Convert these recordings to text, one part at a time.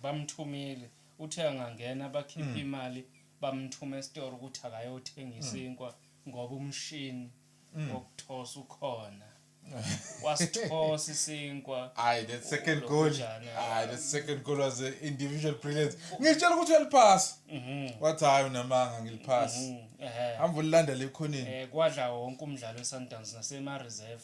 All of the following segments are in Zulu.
Bamthumile uthe angangena bakhiphe imali bamthume esitoro ukuthi akayothenga isinkwa ngoba umshini wokuthosa ukhona. Wasithosa isinkwa. Hayi that second goal. Hayi that second goal was an individual brilliance. Ngitshela ukuthi uyaliphasa. Mhm. Wathi hayi unamanga ngiliphasa. Mhm. Ehhe. Hamba ulilandela ekhoneni. Eh kwadla wonke umdlalo weSundowns nasema reserve.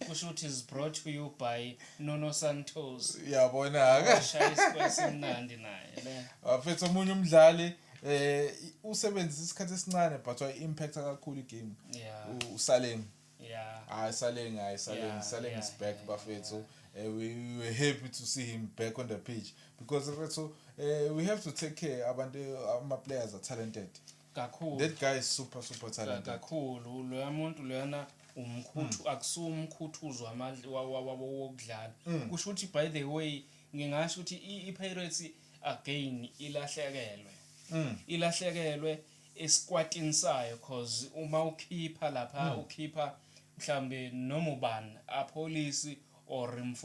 Kushuthi is brought to you by Nuno Santos. Yabona ke. Shaya isikwesi simnandi naye le. Waphetha omunye umdlali eh usebenzisa isikhathi esincane but wa impact kakhulu igame. Yeah. Usaleng. Yeah. Hayi Saleng, hayi Saleng, Yeah, Saleng yeah, is back yeah, bafethu. Eh, we, we were happy to see him back on the pitch because bafethu eh, we have to take care abantu ama players are talented. Kakhulu. That guy is super super talented. Kakhulu loya muntu loyana umkhuthu mm. akusuwa umkhuthuzo wamandla wokudlala. Mm. Kusho ukuthi by the way ngingasho ukuthi iPirates again ilahlekelwe. Mm. Ilahlekelwe esikwatini sayo cause uma ukhipha lapha ukhipha mhlambe noma ubani apolice or mfu